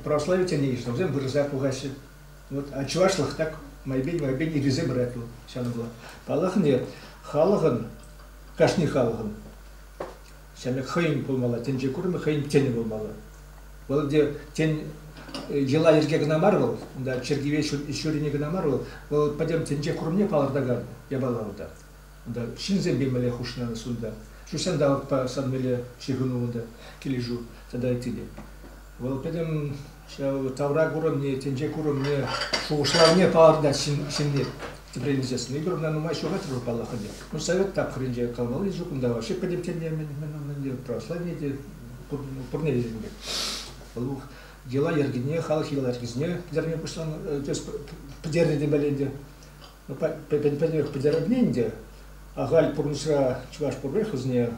православи тӗне йышлавсем вырӑса пухаҫҫӗ. Вот, а чӑвашлӑх так майбен майбен ирӗсе пырать вӑл ҫавна пула. Паллахне халӑхӑн, кашни халӑхӑн ҫамрӑк хӑйӗн пулмалла, тӗнче курӑмӗ хӑйӗн тӗнӗ пулмалла. Вӑл те тен йӑла-йӗрке кӑна мар вӑл, унта чиркӗве ҫурине кӑна мар вӑл, вӑл пӗтӗм тӗнче курӑмне палӑртакан япала унта. Унта ҫынсемпе мӗнле хушнӑ сунта? Ҫук ҫанталӑкпа сан мӗнле ҫыхӑну унта килӗшӳ тата ыттине? Вӑл пӗтӗм ҫав тавра курӑмне, тӗнче курӑмне, шухӑшлавне палӑртать ҫынни. Тӗпрен илсессӗн эпир ӑна нумай ҫухатрӑр паллах ӗнтӗ. Ну, совет тапхӑрӗнче калмалли ҫук унта вообще пӗтӗм тӗнне мӗн ӗнтӗ православие те пурне те ӗнтӗ. Вӑл йӑла-йӗркине, халӑх йӑла-йӗркисене пӗтерме пуҫланӑ, пӗтернӗ темелле ӗнтӗ. пӗтӗмпӗлӗх пӗтерӗпне ӗнтӗ. Ахаль пурнӑҫра чӑваш профессорне,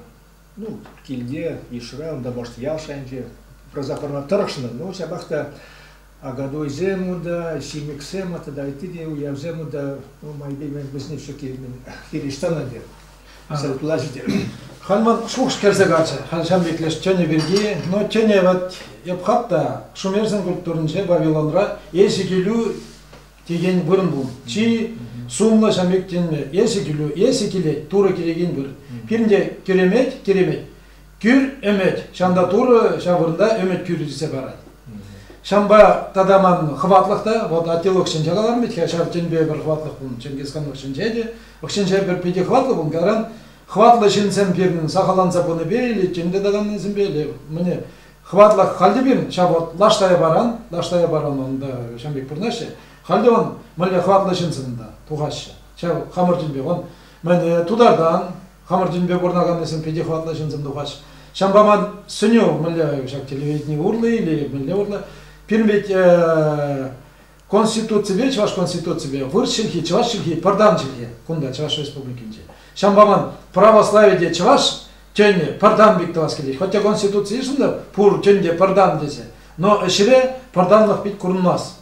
ну, килте, йышра, унта баш ял шайӗнче пырса пӑрма тӑрӑшнӑ. Ну, ҫапах та агадуйсем унта, ҫимӗксем тата ытти те уявсем унта, ну, майпе мен вӗсене все-таки хирӗҫтан ӗнтӗ. Сӑртлаҫите. Хан ман шухӑш кӗрсе каччӗ. Хан ҫамрӑклеш тӗнӗ пирки. Но тӗне вот эп хат та Шумерзин культуринче Вавилонра эсӗ килӳ текен вырӑн пул. Чи сумлӑ ҫам ӳктенмӗ, эсӗ килӳ, эсӗ килет, Турӑ килекен выр. Пирӗнте киремет, киремет, кӳр ӗмӗт. Ҫамта Турӑ ҫав вырӑнта ӗмӗт кӳрӗ тесе парать. Ҫампа тата ман хӑватлӑх та, вот аттилӑх ҫинче каларӑм бит-ха, ҫав тӗнпе пӗр хӑватлӑх пулнӑ, Ченгизханлӑх ҫинче те, ӑхҫинче пӗр питӗ хӑватлӑ пулнӑ, таран хӑватлӑ ҫынсем пирӗн сахалланса пынипе или тем те таканнисемпе, или мӗне, Хӑватлах халӗ пирӗн ҫав вӑт лаш Таяпаран, лаш Таяпаран унта ҫam пек пурӑнаҫҫӗ. Халӗ вон мӗнле хӑватлӑ ҫынсем та тухаҫҫӗ. Ҫав хамӑр тӗнпе вон мӗн тутартан, хамӑр тӗнпе пурӑнаканнисем питӗ хӑватлӑ ҫынсем тухаҫҫӗ. Ҫавӑнпа ман сӗнӳ мӗнле ҫак телевидени урлӑ или мӗнле урлӑ пирӗн вӗт Конституципе, Чӑваш Конституципе вырӑс чӗлхи, чӑваш чӗлхи, пӗр тан чӗлхе кунта, Чӑваш Республикинче. Ҫавӑнпа ман православи те чӑваш тӗнӗ пӗр тан пек тӑвас килет. Хотя Конституци йышӑннӑ пур тӗн те пӗр тан тесе, но ӗҫре пӗр танлӑх пит курӑнмасть.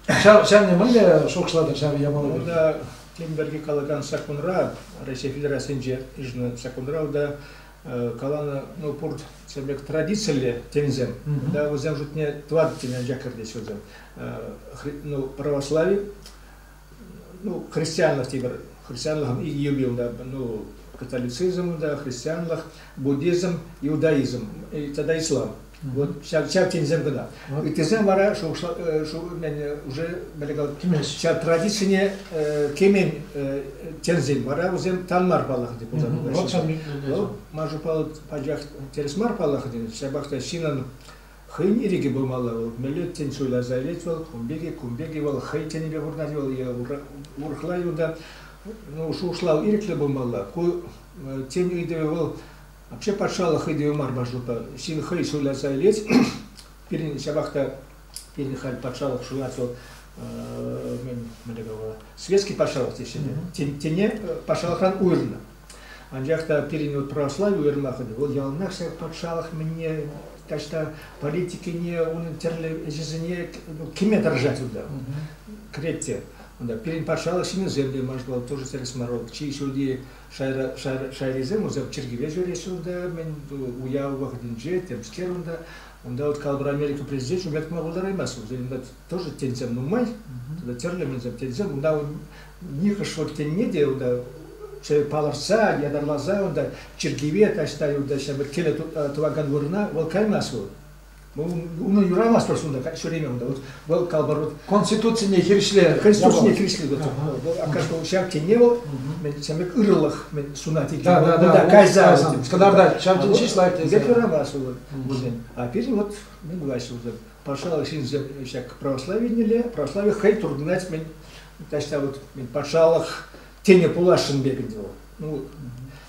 Ҫав, ҫавна мӗнле шухӑшлатӑр ҫав япала пирки? Унта тем пирки калакан саккунра, Раҫҫей Федерацийӗнче йышӑннӑ саккунра унта каланӑ, ну, пурт пек традицилле тенисем, да, вӗсем шутне тӑватӑ тене анчах кӗртеҫ вӗсем. Ну, православи, ну, христианлӑх тепӗр христианлӑх юбил, да, ну, католицизм, да, христианлӑх, буддизм, иудаизм тата ислам. Вот ҫав, ҫав тенисем кӑна. Ыттисем вара шухӑшла, э, шу, уже ҫав традицине э, кемен э, тенсен вара вӗсем тан мар паллах деп пулса Вӑл маншу пал пачах терес мар паллах ден ҫапах та шинан хӑйн ирӗке пулмалла вӑл меллет тен суйласа илет вӑл кумбеке кумбеке вӑл хӑй тенипе вырнать вӑл урӑхла юнта ну шухӑшлав ирӗклӗ пулмалла ку тен ыйтӑвӗ вӑл Вообще патшалӑх хӑй те мар маршрутпа ҫын хӑй суйласа илес. Пирӗн ҫапах та пирӗн халь патшалӑх суйлас вӑл мӗнле калама светский патшалӑх теҫҫӗ те тене патшалӑхран уйӑрнӑ. Анчах та пирӗн вот православи уйӑрмахӑнӗ вӑл яланах ҫав патшалӑх мӗнне таҫта политикине унӑн тӗрлӗ ӗҫӗсене ну, кӗме тӑрӑшать унта кӗрет те. Унта пирӗн патшалӑх ҫыннисем те, может, тоже тӗрӗс мар, чи ҫӳлти Шайрисем вӗсем чиркӗве ҫӳреҫҫӗ унта, мӗн уяв вӑхӑтӗнче, темскер унта. Унта вот калӑпӑр Америка президентшӗн лекме пултараймасть. Вӗсен унта тоже тенсем нумай, тӗрлӗ мӗнсем тенсем. Унта нихӑш вот тенне те унта палӑртса, ятарласа унта чиркӗве таҫта унта ҫав киле тӑвакан вырӑна вӑл каймасть вӑл. Унӑн юрамастӑр сунта ҫӳреме унта. Вӑл калпӑр конституцине хирӗҫле, конституцине хирӗҫле вӑл аккашку ҫак тенне вӑл сәмек ырылӑх сунать. Унта кайса кӑнарта ҫав тен ҫеҫ лайӑх тесе. Пек юрамас вӑл унен. А пирӗн вот не власть вот патшалӑх ҫынсем ҫак православинелле православи хӑй туртӑнать мен таҫта вот патшалӑх тене пуласшӑн пек ӗнтӗ вӑл. Ну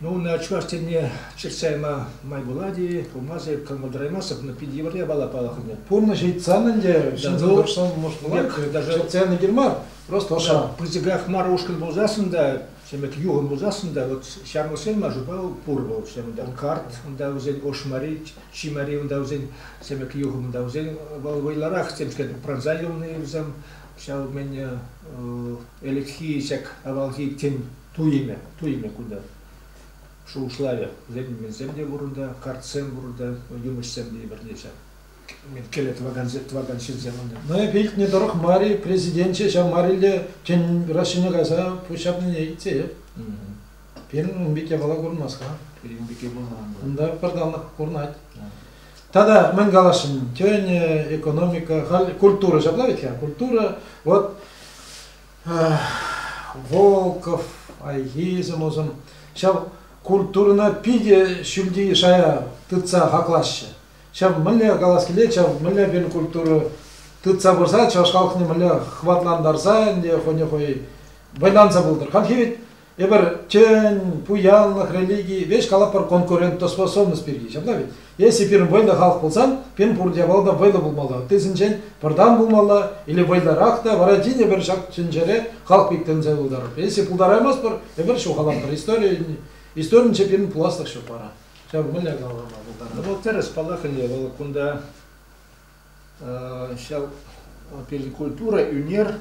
Ну, ӑна Чӑваш Енне чӑтса яма май пулать-и, пулмас эп кӑмӑл тӑраймастӑп, но пит евӗр япала палӑрнӑ. Пурнӑҫ ыйтсан ӗнтӗ ҫын тӑрӑшсан может пулать, даже чӑтса яни кир мар, просто ӑша. Пысӑках мар ушкӑн пулсассӑн та, ҫемек юхӑм пулсассӑн та, вот ҫамрӑксен мар шупа пур вӑл ҫемӗнте. Карт, унта вӗсен ошмари, чимари, унта вӗсен ҫемек юхӑм, унта вӗсен вӑл вӑйлӑрах темскер пӑрӑнса юлни вӗсем ҫав мен ӗлӗкхи сек авалхи тен Туйӑмӗ, туйӑмӗ кунта шухӑшлавӗ. Лекменсем те пур унта, картсем пур унта, юмӑҫсем те пӗрлеччӗ. Кӗле тӑвакан, тӑвакан ҫынсем унта. Но эпӗ илтнӗ тӑрӑх мар-и, президенче ҫав мар-илте тен Россине кайса пуҫҫапнине илтсе. Пирӗн Умбике вала курмас-ха. Пирӗн Умбике пурӑнман. Унта пӗр танлӑх курӑнать. Тата мӗн каласшӑн, тен, экономика, халь культура ҫапла вӗт-ха, культура, вот Волков, хайхи сӑмӑсем ҫав культурӑна питӗ ҫӳлти шая тытса хаклаҫҫӗ. Ҫав мӗнле калас килет, ҫав мӗнле пин культура тытса пырса чӑваш халӑхне мӗнле хӑватлантарса ӗнтӗ хӑйне хӑй вӑйланса пултӑр. Хальхи вӗт Эпир тӗн, пуянлӑх, религи, веҫ калапӑр конкурентоспособность пирки. Ҫапла вӗт. Если пирӗн вӑйлӑ халӑх пулсан, пирӗн пурте япала та вӑйлӑ пулмалла. Ыттисенчен пӗртан пулмалла или вӑйлӑрах та, вара тин эпир ҫак тӗнчере халӑх пек тӗнче пултарӑпӑр. Если пултараймастпӑр, эпир ҫухалатпӑр. Истори, историнче пирӗн пуласлӑх ҫук вара. Ҫав мӗнле калама пултарнӑ? Вӑл тӗрӗс паллаканни, вӑл кунта ҫав пирӗн культура, ӳнер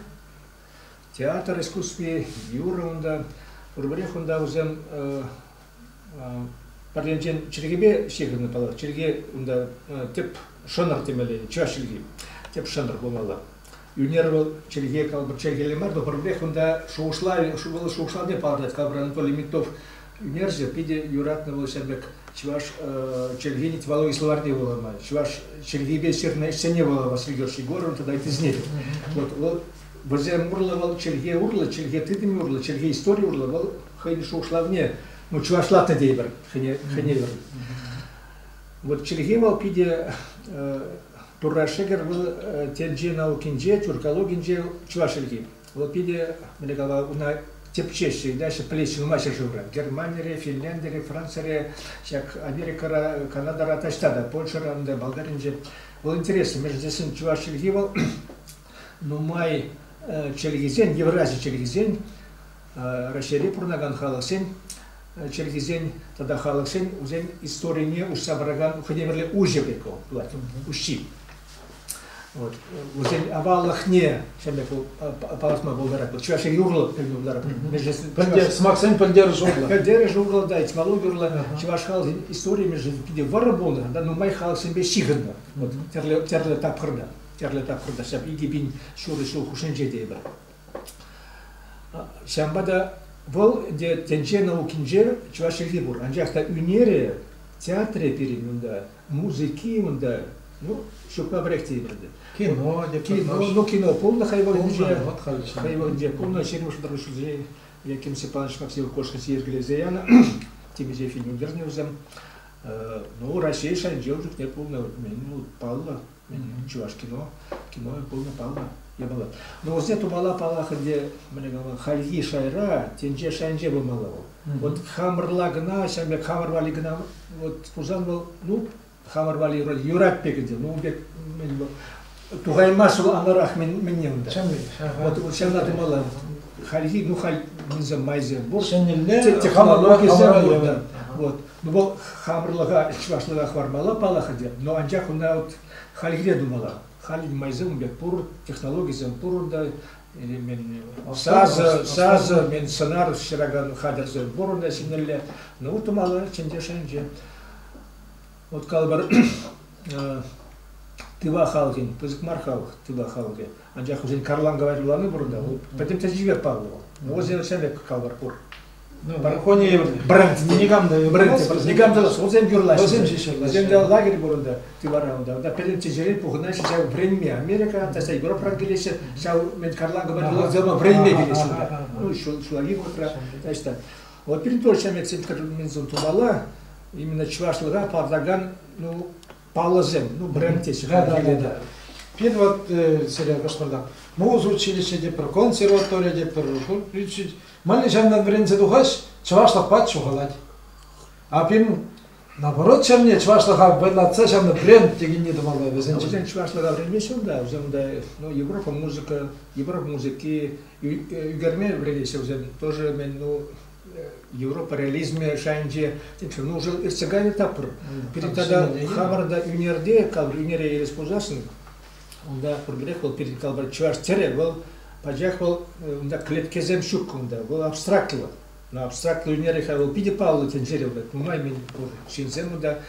Театр искусстви, юрӑ унта. Пурпӗрех унта вӗсем пӗр енчен чӗлхепе ҫыхӑннӑ паллах. Чӗлхе унта тӗп шӑнӑр темелле, чӑваш чӗлхи тӗп шӑнӑр пулмалла. Ӳнер вӑл чӗлхе, калӑпӑр, чӗлхелле мар, но пӗрремех унта шухӑшлав, вӑл шухӑшлавне палӑртать калӑпӑр Анатолий Митов ӳнерҫӗ питӗ юратнӑ вӑл ҫав пек чӑваш чӗлхин тӗвалу словарьне вулама, чӑваш чӗлхипе ҫырнӑ ӗҫсене вулама Сергей Егоровӑн тата ыттисене те. Вот, вот Вӗсем урлӑ вӑл чӗлхе урлӑ, чӗлхе тытӑмӗ урлӑ, чӗлхе истори урлӑ вӑл хӑйӗн шухӑшлавне, ну чӑвашлатнӑ тейӗпӗр, хӗне хӗневӗр. Вот чӗлхе вӑл питӗ Турра шӗкӗр вӑл тӗнче наукинче, тюркологинче чӑваш чӗлхи. Вӑл питӗ мӗне кала уна тӗпчеҫҫӗ, иначе пӗлесшӗн нумай ҫӗршывра. Германире, Финляндире, Францире, ҫак Америкӑра, Канадара таҫта та, Польшӑра, Болгаринче. Вӑл интересно, между тесен чӑваш чӗлхи вӑл нумай чӗлхесен, еврази чӗлхисен, Раҫҫейре пурӑнакан халӑхсен чӗлхисен тата халӑхсен вӗсен историне уҫса паракан хӑйнемӗрле уҫӑ пек вӑл пулать, уҫҫи. Вот. Вӗсен аваллӑхне ҫӗнӗ палӑртма пултарать. Вот чӑваш юрлӑ пӗлме пултарать. Пӗлте, сӑмахсен пӗлтерӗш урлӑ. Пӗлтерӗш урлӑ да, этимологи урлӑ чӑваш халӑхӗн историйӗ питӗ вӑрӑ пулнӑ, та нумай халӑхсемпе ҫыхӑннӑ. Вот тӗрлӗ тӗрлӗ тапхӑрта. тӗрлӗ тапхӑрта ҫав икӗ пин ҫурӑ ҫул хушшинче тейпӗр. Ҫавӑнпа та вӑл ӗнтӗ тӗнче наукинче чӑваш чӗлхи пур. Анчах та ӳнерӗ, театрӗ пирӗн унта, музыки унта, ну, ҫукпа пӗрех тейпӗр ӗнтӗ. Кино, кино, ну кино пулнӑ хай вӑхӑтӗнче. Хай вӑхӑтӗнче пулнӑ 25 ҫулсенче Яким Степанович Максимов Кошкин йӗркелесе янӑ темиҫе фильм ӳкернӗ вӗсем. Ну, Раҫҫей шайӗнче ун чухне пулнӑ. Ну, паллӑ чӑваш кино, кино пулнӑ, паллӑ япала. Но вӗсене тумалла паллах ӗнтӗ, мӗне калама, хальхи шайра, тенче шайӗнче пулмалла вӑл. Вот хамӑрла кӑна, ҫавӑн пек хамӑр валли кӑна вот пулсан вӑл, ну, хамӑр валли юрать пек ӗнтӗ, ну, пек, тухаймас вӑл анарах мӗне унта. Вот ҫавна тумалла. Хальхи, ну, хальхинсем майсем пур. Ҫӗнӗлле, технологисем пур, вот. Вӑл хамӑрлӑха чӑвашлӑха хӑвармалла паллах ӗнтӗ, но анчах ӑна вот хальхине тумалла. Халь майсем ун пек пур, технологисем пур унта. мен сасӑ, сасӑ, мен сӑнар ҫыракан хатӗрсем пур унта ҫӗнӗлле. Но тумалла чӗнче шанче. Вот калӑпӑр, тыва халӑхӗн, пысӑк мар халӑх, тыва халӑхӗ. Анчах вӗсен карланка вайрӑлани пур унта, вӑл пӗтӗм тӗнчипе паллӑ вӑл. Но вӗсен ҫавна пек калӑпӑр пур. Браконье брать никам та брать никам та вӗсем юрлаҫҫӗ. Вӗсем ҫеҫ юрлаҫҫӗ. Вӗсем лагерь пур унта, тивара унта. Унта пӗрремӗш ҫӗре пухӑнаҫҫӗ ҫав вӗренме Америка, таса Европӑран килеҫҫӗ. Ҫав мӗн карланкӑ патне вӗренме килеҫҫӗ унта. Ну, ҫулхи вӑхӑтра, значит так. Вот перед ҫаметсем, которые тумала, именно чувашлыга падаган, ну, паллӑсем, ну, бренд теҫҫӗ хальхилле та. Пир вот э, сире Башкортам. Муз училище те пӗр консерватория те пӗр Мали ҫандан вӗренсе тухаҫ, чӑвашлӑхпа чухалать. А пин наоборот чамне чӑвашлӑха вӑйлатса ҫанна бренд текенне тумалла вӗсен. Вӗсен чӑвашлӑха вӗренмеҫ унта, вӗсенде ну, Европа музыка, Европа музыки ӳкерме вӗренеҫҫӗ вӗсен тоже мен ну Европа реализмӗ шайӗнче нушӑн иртсе кайнӑ таппӑр. Пирӗн тата хамӑрӑнта ӳнерте, калӑпӑр ӳнере ерес пулсассӑн, унта пурпӗрех вӑл пирӗн калӑпӑр чӑваш тӗрӗ, вӑл пачах вӑл унта клеткесем ҫук унта, вӑл абстрактлӑ. Но абстрактлӑ ӳнере хай вӑл питӗ паллӑ тӗнчере, нумай мӗн пур ҫынсем унта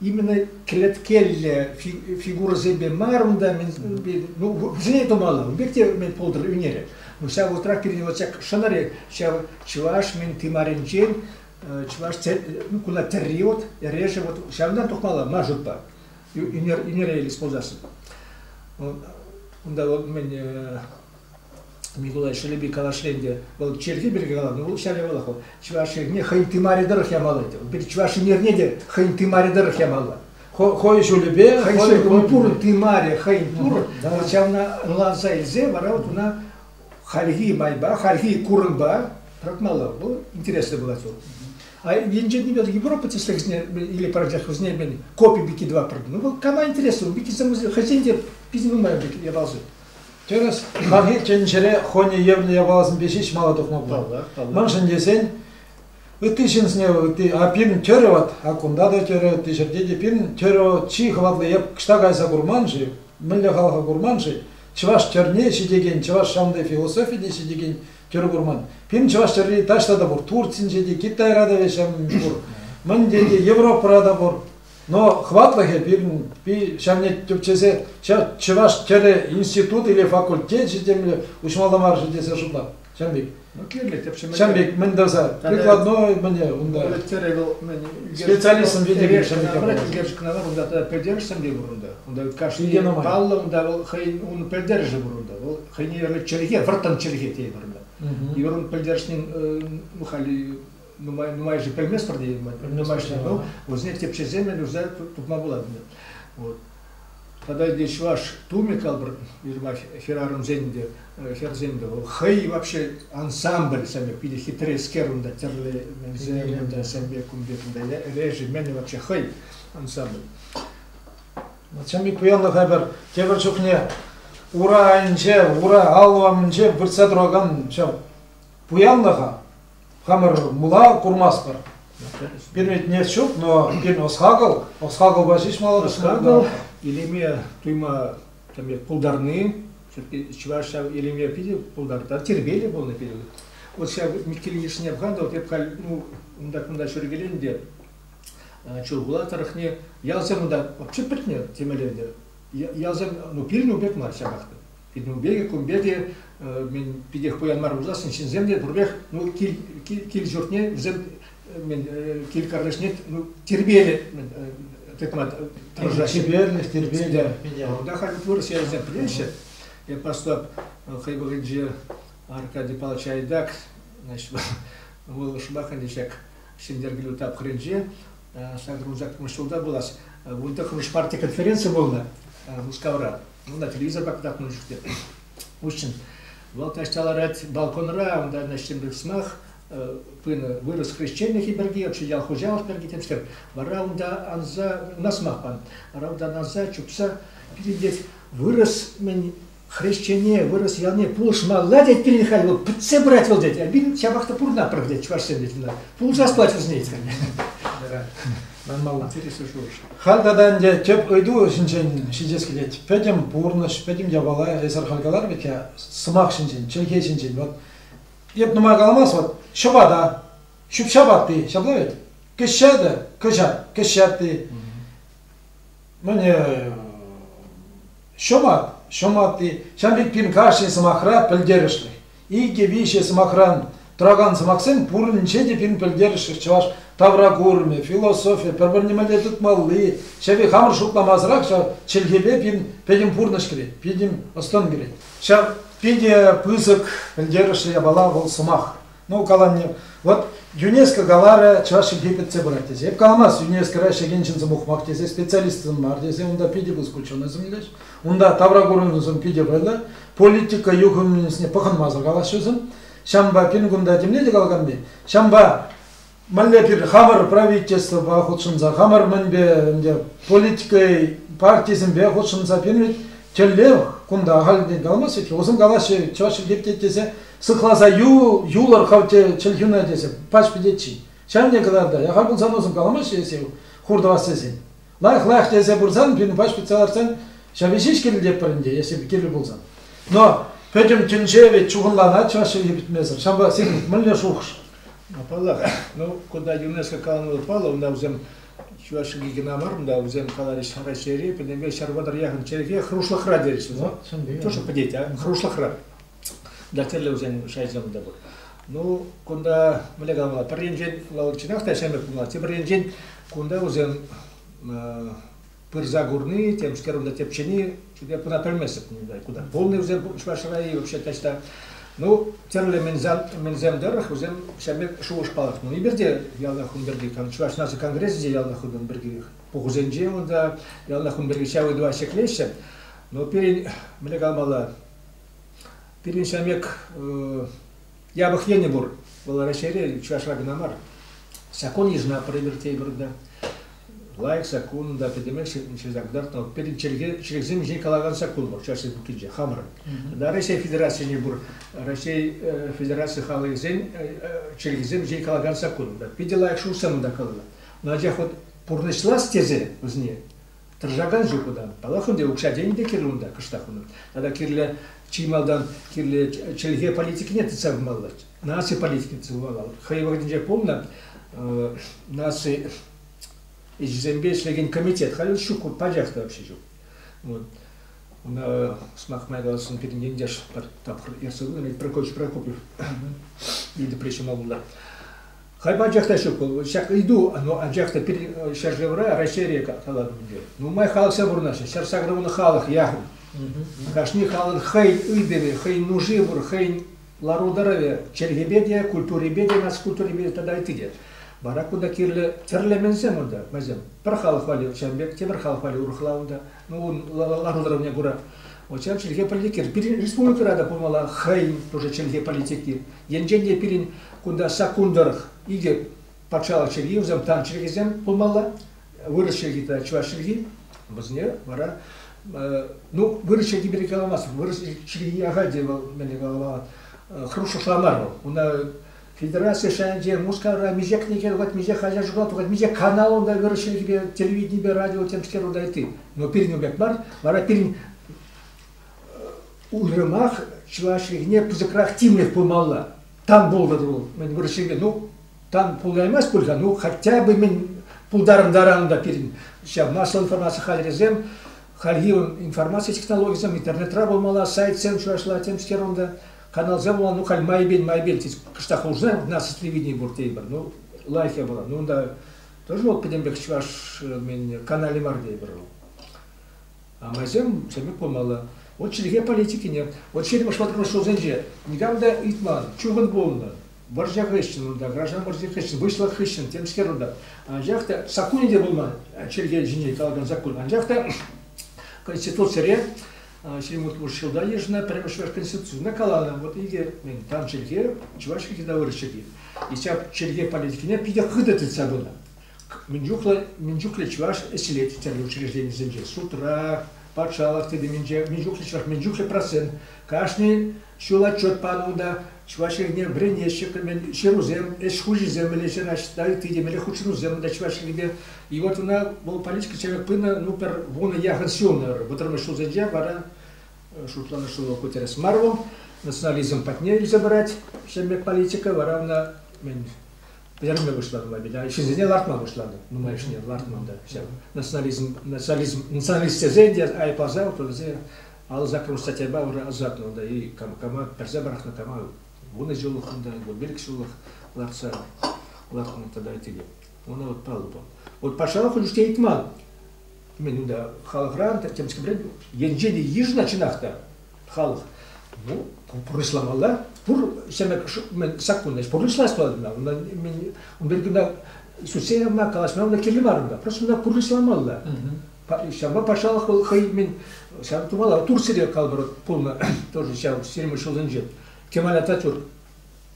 именно кӗлеткеллӗ фигурӑсемпе мар унта, мен, ну, вӗсене тумалла. Ун пек те мен пултӑр ӳнерӗ. Но ҫав вӑхӑтрах пирӗн вот ҫак шӑнӑрӗ ҫав чӑваш мен тымарӗнчен чӑваш ну, куна тӗрри вот, эрешӗ вот ҫавӑнтан тухмалла мар шутпа. Ӳнер, ӳнер елес пулсассӑн. Унта вот мен Микулай Шелепи канашри ӗнтӗ, вӑл черкке пирки каланӑ, вӑл ҫав явалах вӑл чӑваш эрне хӑйӗн тымарӗ тӑрӑх ямалла ӗнтӗ. Вӑл чӑваш эрнене те хӑйӗн тымарӗ тӑрӑх ямалла. Хӑй ҫулӗпе хӑйӗн пурӑн тымарӗ хӑйӗн пурӑн, вот ҫавна ӑнланса илсе вара вот уна хальхи майпа, хальхи курӑнпа тӑратмалла. Вӑл интереслӗ пулать вӑл. А енчен идет Европа тӗслӗхсене или парачах вӗсене мен копи пики два пыртнӑ. Ну, вӑл кама интереслӗ, пики хӑйсен те питӗ нумай пек явалсем. Тӗрӗс, хальхи тӗнчере хӑйне евлӗ япаласемпе ҫеҫ мала тухнӑ пуль. Мӗншӗн тесен ытти ҫынсене ытти а пирӗн тӗрӗ ват, а кунта та тӗрӗ, ытти ҫӗрте те пирӗн тӗрӗ вӑл чи хӑватлӑ е кӑҫта кайса курман-ши, мӗнле халӑха курман-ши, чӑваш тӗрне ҫитекен, чӑваш ҫавӑнти философи те ҫитекен тӗрӗ курман. Пирӗн чӑваш тӗрри таҫта та пур, Турцинче те, Китайра та веҫ пур, мӗн те, Европӑра та пур. Но хӑватлӑхӗ пирӗн ҫавне тӗпчесе чӑваш тӗрӗ институт или факультечӗ темле уҫмалла мар-ши тесе шутлап. Ҫавӑн пек. Ну, кирлӗ тӗпчеме. Ҫавӑн пек мӗн тӑрса, прикладной мӗне унта. Специалистӑн видео ҫавӑн пек. Пӗлтерӗш кӑна унта пӗлтерӗшсем те пур унта. Унта кашни паллӑ унта вӑл хӑйӗн ун пӗлтерӗшӗ пур унта. Вӑл хӑйне чӗлхе, вӑрттӑн чӗлхе тейӗпӗр унта. И вӑрӑн пӗлтерӗшнин ну, халӗ нумай нумайӑшӗ пӗлместпӗр тейӗн нумайӑшӗ вӑл вӗсене тӗпчесе мӗнле тупма пулать вот тогда где чӑваш тумӗ калпӑр жиырма хӗрарӑмсен те хӗрсем те хӑй вообще ансамбль сами питӗ хитрескер унта тӗрлӗ мӗнсем унта сэмбе кумбек унта режи мӗн вообще хӑй ансамбль сами пуянлӑха пӗр тепӗр чухне ура айӗнче ура аллу умӗнче выртса туракан ҫав пуянлӑха хамӑр мула курмастпӑр. Пирӗнетне ҫук, но пирӗн ӑс-хакӑл, ӑс-хакӑлпа ҫеҫ мал. Ӑс-хакӑл илеме туйма там пултарни, чӑваш ҫав илеме питӗ пултартар, тирпейлӗ пулнӑ пирӗн. Вот ҫав Миккель йышне пхандал, эп халь, ну, унтах-унта ҫӳркелен те, Чулхула тӑрӑхне ялсем унта вообще пӗтнӗ темелле ӗнтӗ. Ялсем, ну, пирӗн у пек мар ҫапах та. Пирӗнпе те, кунпе те мӗн питех пуян мар пулсассӑн ҫынсем те пурпех ну, кил, кил, кил-ҫуртне вӗсем мӗн, кил-картишне ну, тирпейлӗ тытма тӑрӑшаҫҫӗ. Тирпейлӗх, тирпейлӗх. Унта халь вырӑс ялӗсем пӗлеҫҫӗ. Я просто хӑй вӑхӑтӗнче Аркадий Павлович Айдак, значит, вӑл шӑпаканчи ҫак Ҫӗнтеркелӳ тапхӑрӗнче сакӑрмун-сакӑрмун ҫулта пулас. Унта Кружпарти конференци пулнӑ Мускавра. Вӑл телевизорпа кӑтартма ҫӳрет. В общем, вӑл каҫта ларать балконра, унта ӗҫченпе сӑмах пынӑ, вырӑс хресченлӗхӗ пирки, вообще ял хуҫалӑх пирки тӗпсем. Вара унта анса, на сӑмах пан, вара унтан анса чупса пирӗнтех вырӑс мӗн хресчене, вырӑс ялне пулӑшмалла тет пирӗн халь вӑл, пӗтсе пырать вӑл тет. Пирӗн ҫапах та пурӑнатпӑр тет чӑвашсем тет. Пулӑшас пулать вӗсене тет халь. Манмалла. Интересный шухӑш. Халь тата ӗнтӗ тӗп ыйту ҫинчен ҫитес килет. Пӗтӗм пурнӑҫ, пӗтӗм япала эсир халь калар пек, сӑмах ҫинчен, чӗлхе ҫинчен. Вот эп нумай каламас, вот ҫӑпата, ҫӳп-ҫап атти, ҫапла вӗт? Кӗҫҫатӗ, кӑҫат, кӗҫҫе атти. Мӗне ҫӑмат, ҫӑм атти. Ҫав пек пин кашни сӑмахра пӗлтерӗшлӗх. Икӗ-виҫӗ сӑмахран тӑракан сӑмахсем пуринче те пин пӗлтерӗшлӗ. Чӑваш тавракурӑмӗ, философи, пӗр-пӗрне мӗнле тытмалли, чӗри хамӑр шутламасӑрах ҫав чӗлхепе пин пӗтӗм пурнӑҫ кӗрет, пин ӑс-тӑн кӗрет. Ҫав питӗ пысӑк пӗлтерӗшлӗ япала вӑл сӑмах. Ну, каланни, вот ЮНЕСКО каларӗ, чӑваш чӗлхи пӗтсе пырать тесе. Эп каламас, ЮНЕСКОра ӗҫлекен ҫын сӑмах тесе, специалист сӑн мар тесе, унта питӗ пысӑк ученӑйсем килӗҫ. Унта тавра курӑнусем питӗ пайлӑ. Политика юхӑмӗсене пӑхӑнмасӑр калаҫҫӗсем. Ҫампа пин кунта темле те калаканни. Ҫампа мӗнле пир хамӑр правительствӑпа хутшӑнса хамӑр мӗнпе ӗнтӗ политика партисемпе хутшӑнса пинвет тӗллев кунта ахальтен калмаҫҫӗ-ҫке. Усем калаҫҫӗ, чӑваш чӗлхепте тесе сыхласа ю, юлӑр хавте чӗлхӳна тесе пач пӗтетчи. Ҫавне кӑтарта. Яха пулсан усем каламаҫҫӗ эсир хуртӑвас тесен. лах-лах тесе пырсан, пинпа шпитца лартсан, ҫавӑ ҫеҫ кирилетпӗр ӗнтӗ, если бы кирлӗ пулсан. Но пӗтӗм тӗнче ведь чухӑнланать чӑваш чӗлхи пӗтмесӗр. Ҫавӑ сирӗн мӗнле шухӑш? Паллах, ну, кунта ЮНЕСКО каланӑ паллӑ, унта вӗсем чӑваш чӗлхи кӑна мар, унта вӗсем каларӗҫ Раҫҫейре, пӗтӗмпе ҫӗр вӑтӑр яхӑн чӗлхе хӑрушлӑхра терӗҫ. Ну, чӑн пӗтет, а хӑрушлӑхра. Да тӗрлӗ вӗсен шайсем те пур. Ну, кунта мӗнле калама, пӗр енчен вӑл чӑнах та ҫӗмӗрт пулнӑ, тепӗр енчен кунта вӗсем пырса курни, темскер унта тӗпчени, типе куна пӗлместӗп куда. Полный вӗсем Шварцшӑра-и вообще таҫта. Ну, тӗрлӗ мӗнсем тӑрӑх вӗсем ҫемек шухӑш палӑртнӑ. Эпир те ялтах ун пирки, Чӑваш наци конгресӗнче ялтах ун пирки, пухусенче унта ялтах ун пирки ҫав ыйтӑва ҫӗклеҫҫӗ. Но пирӗн, мӗнле калмалла, Пирӗн ҫамек япӑх енӗ пур. Вӑл Раҫҫейре, чӑвашра кӑна мар. Закон йышӑна провертейпӗр та. Лайӑх закон та пӗтӗмех ҫырса кӑтартнӑ. Пирӗн чӗлхе чӗлхесем ҫине калакан закон вӑл Чӑваш Республикинче хамӑрӑн. Тата Раҫҫей Федерацине пур Раҫҫей Федераци халӑхӗсен чӗлхесем ҫине калакан закон. Питӗ лайӑх шухӑшсем унта каланӑ. Анчах вот пурнӑҫлас тесе вӗсене Тӑрӑшакан ҫук унта. Паллах, ӗнтӗ укҫа-тенкӗ те кирлӗ унта кӑштах унӑн. Тата кирлӗ чи малтан кирлӗ чӗлхе политикине тытса пымалла. Наци политикине тытса пымалла. Хӑй вӑхӑтӗнче пулнӑ наци ӗҫӗсемпе ӗҫлекен комитет халь ҫук, пачах та вообще ҫук. Вот. Una, smacht mal was und den Indisch Topf erst so mit Prokop, Prokop, die Depression mal Хай пачах та ҫук вӑл. Ҫак ыйту, оно анчах та пирӗн ҫӗршывра, Раҫҫейре калатӑп ӗнтӗ. Нумай халӑхсем пурӑнаҫҫӗ. Ҫар ҫагрӑвӑн халӑх яхӑн. Кашни халӑн хӑйӗн ыйтӑвӗ, хӑйӗн нуши пур, хӑйӗн лару-тӑрӑвӗ, чӗлхепе те, культурипе те, наци культурипе те тата ытти те. Вара кунта кирлӗ тӗрлӗ мӗнсем унта, майсем. Пӗр халӑх валли ҫавӑн пек, тепӗр халӑх валли урӑхла унта. Ну, ун ланӑрӑвне кура Очар чӗлхе политикер пирӗн республикӑра та пулмалла хӑйӗн тоже чӗлхе политики. Енчен те пирӗн кунта саккун тӑрӑх икӗ патшалӑх чӗлхи, вӗсем дан чӗлхесем пулмалла, вырӑс чӗлхи тата чӑваш чӗлхи, вӗсене вара ну, вырӑс чӗлхи пирки каламасть, вырӑс чӗлхи ахаль те вӑл мӗне калама хӑрушла мар вӑл. Уна Федераци шайӗнче Мускавра миҫе кӗнеке тухать, миҫе хаҫат журнал тухать, миҫе канал унта вырӑс чӗлхипе, телевиденипе, радио темскер унта ытти. Но пирӗн пек мар, вара пирӗн уйрӑмах чӑваш чӗлхине пысӑкрах тимлӗх пулмалла. Там пултӑр вӑл, мӗн вырӑс чӗлхипе, ну, там пулаймасть пуль-ха, ну, хотя бы мӗн пултарӑнтаран унта пирӗн ҫав массӑллӑ информаци хатӗрӗсем, хальхи информаци технологийӗсем интернетра пулмалла, сайтсем чӑвашла темскер унта. каналсем вӑл, ну, халь майбен, майбен, тет, кӑштах хушса, у нас телевидение пур тейпӗр, ну, лайӑхе пулать. Ну, унта тоже вот пӗтем пек чӑваш мен канале мар тейпӗр вӑл. А майсем сӗмек пулмалла. Вот чӗлхе политикине. Вот ҫирӗм шваркӑн шутсенче никам та ыйтман, чухӑн пулнӑ. Вӑрҫа хыҫҫӑн унта, граждан вӑрҫи хыҫҫӑн, выҫлӑх хыҫҫӑн, темскер унта. Анчах та саккунӗ те пулман, чӗлхе ҫине калакан саккун. Анчах та Конституцире Ҫирмӑт пуш ҫулта йышӑннӑ пӗрремӗш Конституцина каланӑ, вот икӗ тан чӗлхе, чӑваш чӗлхи тавӑрӑш чӗлхи. И ҫак чӗлхе политикине питӗ хытӑ тытса пынӑ. Мӗн чухлӗ, мӗн чухлӗ чӑваш ӗҫлет тӗрлӗ учрежденисенче, судра, патшалӑх тытӑмӗнче, мӗн чухлӗ чӑваш, мӗн чухлӗ процент. Кашни ҫул отчет панӑ унта, Чӑваш Ене вӗренеҫҫӗ-кӗмен ҫырусем, ӗҫ хучӗсем ӗлӗҫе наҫта ытти темелле хутшӑнусем та Чӑваш Енӗпе. И вот она, вӑл политика человек пынӑ, ну пӗр вунӑ яхӑн ҫулнӑ вӑтӑрмӗш ҫулсенче вара шутланӑ, что Гутеррес Марвел национализм патне илсе пырать ҫеммек политика, вара ӑна мен пӗтерме пуҫланӑ мабильно, ҫынсене лартма пуҫланӑ нумайӑшне лартман та ҫав национализм национализм националист тесен те айӑпласа вӗсене Ал саккӑр статьяпа ырӑ ӑсатнӑ унта-и, кама персе пӑрахнӑ, кама вунӑ ҫуллӑх унта, вун ҫуллӑх лартса лартнӑ тата итене. Ӑна вот паллӑ пулнӑ. Вот патшалӑх уже что ыйтман. Мен унда халӑхран, темскипрен, енчен йышна чӑнах та халӑх. Ну, пурнӑҫламалла. Пур ҫемек мен саккунна пурнӑҫлас туатна. Унда мен унда кунта сутсе явма, калаҫма унда кирлӗ мар унда. Просто унда пурнӑҫламалла. Ҫавӑнпа патшалӑх вӑл хӑй мӗн ҫав тумала Турцире калӑпӑр пулнӑ тоже ҫав ҫирма ҫулсенче кемалятатюр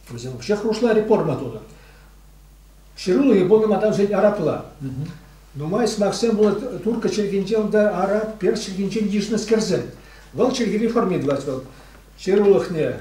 вӗсем вообще хрушла реформа тунӑ ҫыруллӑ пулнӑ атамсен арапла нумай сӑмахсем пулать турка чӗлхинче унта арап перс чӗлхинчен йышнӑскерсем вӑл чӗлхе реформи тӑвать вӑл ҫырулӑхне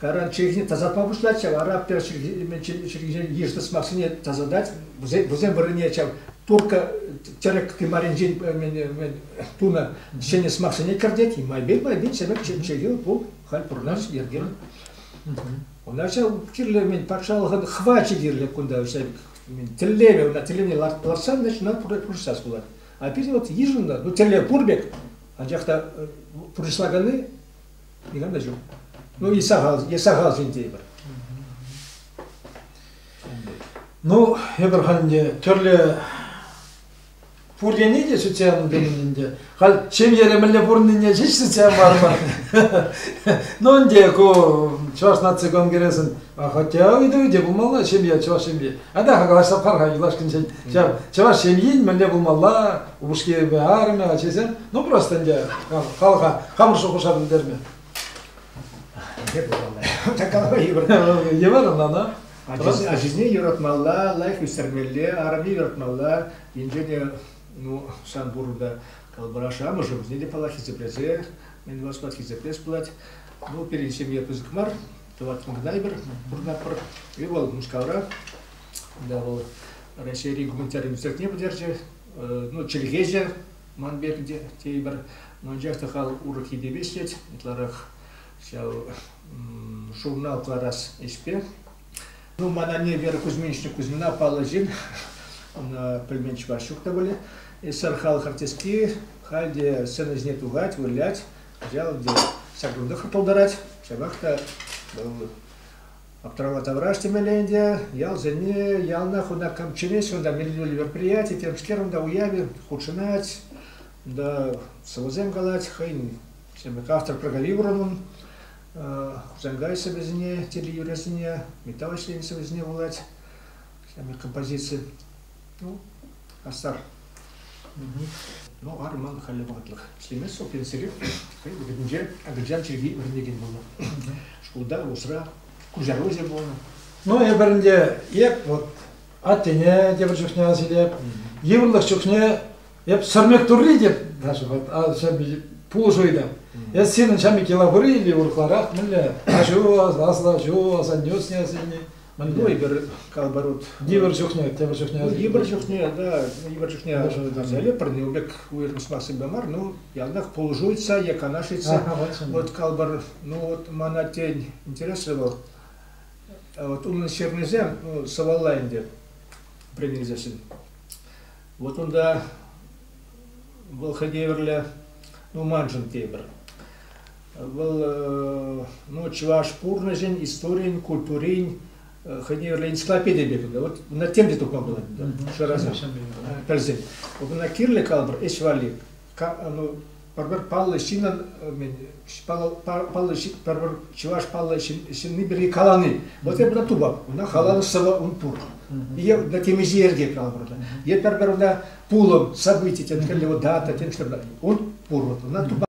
Каран чӗлхине тасатма пуҫлать ҫав, араб пер чӗлхисен йыш сӑмахсене тасатать, вӗсем вырӑнне ҫав турка тӗрӗк тымарӗнчен тунӑ ҫӗнӗ сӑмахсене кӗртет, майбин, майбин, сӗмек чӗлхи пул, халь пурӑнаш йӗркер. Уна ҫав кирлӗ мен патшалӑхӑн хвачӗ кирлӗ кунта ҫав тӗллеве, ӑна тӗллевне лартсан, значит, ӑна пурнӑҫлас пулать. А пирӗн вот йышӑннӑ, ну тӗллев пур пек, анчах та пурнӑҫлаканни Никам та ҫук. Ну и сахал, и сахал ҫын тейпӗр. Ну, эпир халь ӗнтӗ тӗрлӗ пур тени те сӳтсе явнӑ пулин ӗнтӗ. Халь ҫемьере мӗнле пурӑннине ҫеҫ сӳтсе явмарӑмӑр. Ну ӗнтӗ ку Чӑваш наци конгресӗн хотя ыйтӑвӗ те пулмалла ҫемье, чӑваш ҫемье. А та калаҫса пар-ха юлашкинчен. Ҫав чӑваш ҫемйин мӗнле пулмалла, упӑшкипе арӑмӗ, ачисем. Ну просто ӗнтӗ халӑха хамӑр шухӑша пӗлтерме. Мӗне пулмалла? Такова йывӑр. Йывӑр ӑнлана. Ачисене юратмалла, лайӑх ӳстермелле, арӑмне юратмалла. Инҫе те, ну, сан пурӑнта калӑпӑраш амӑшӗ вӗсене те паллах хисеплесе, мӗн васпат хисеплес пулать. Ну, пирӗн ҫемье пысӑк мар, тӑваттӑн кӑна эпир пурӑнатпӑр. И вӑл Мускавра, да вӑл Раҫҫейри гуманитарий министерствине пӗтерчӗ, ну, чӗлхеҫӗ ман пек те тейпӗр, но анчах та хал урӑх йӗпепе ӗҫлет, ытларах ҫав журнал кӑларас ӗҫпе. Ну, мана не Вера Кузьминична Кузьмина паллӑ ҫын, она пӗлмен чӑваш ҫук та были. Эсер халӑх артистки, халь те сцена ҫине тухать, вылять, кӑҫал те ҫак кунта пултарать. Ҫавах та вӑл Аптрала тавраш темелле ӗнтӗ. Ялсене, ялна кунта кам чӗнет кунта меллӗ мероприяти, темскер унта уявӗ хутшӑнать. Унта сӑвӑсем калать хӑйӗн автор проговиворонун Хусанкайсӑ вӗсене, телеюрӗсене, металл ӗҫленӗ вӗсене вулать, композици. Ну, хастар. Ну, арман халӗ вӑхӑтлӑх. Ӗҫлеместсу пенсире хӑй вӗренче Агырджан чирки вӗренекен пулнӑ. Шкулта усра куҫаруҫӑ пулнӑ. Ну, эпӗрӗнте эп вот аттене тепӗр чухне асилеп, йывӑрлӑх чухне эп сӗрмек турри деп даже вот а пулӑшуйда. Эс сирӗн ҫамки лавыры или урларах мӗнле аҫу аслаҫу асаннюсне сине Мӗнле? Эпир калпарут йывӑр чухне, тепӗр чухне. Ну, йывӑр чухне, да, йывӑр чухне асӑнӗ пӗрне пек уйрӑм сӑмахсемпе мар, ну, ялтах пулӑшуется е канашится. Вот калпар, ну вот мана тен интереслӗ вӑл. Вот унӑн ҫырнисем, ну, сывалла ӗнтӗ принесессен. Вот унта вӑл хӑйте евӗрле, ну, маншӑн тепӗр. Вӑл ну, чӑваш пурнӑҫӗн, историйӗн, культурин хӑйне юрлӑ энциклопедия пек ӗнтӗ. Вот на тем те тупма пулать ӗнтӗ. Шыраса пӗлсен. Вот на кирле калӑпӑр ӗҫ валли ну, пӗр паллӑ ҫыннӑн паллӑ пӗр чӑваш паллӑ ҫынни пирки калани. Вот я брату баб, una халану сова un пур. Е на темиҫе йӗрке калӑпӑр. Е пӗр-пӗр una пулӑм, событие, тен, кӗлле дата, тен, что-то. Un pur, una tuba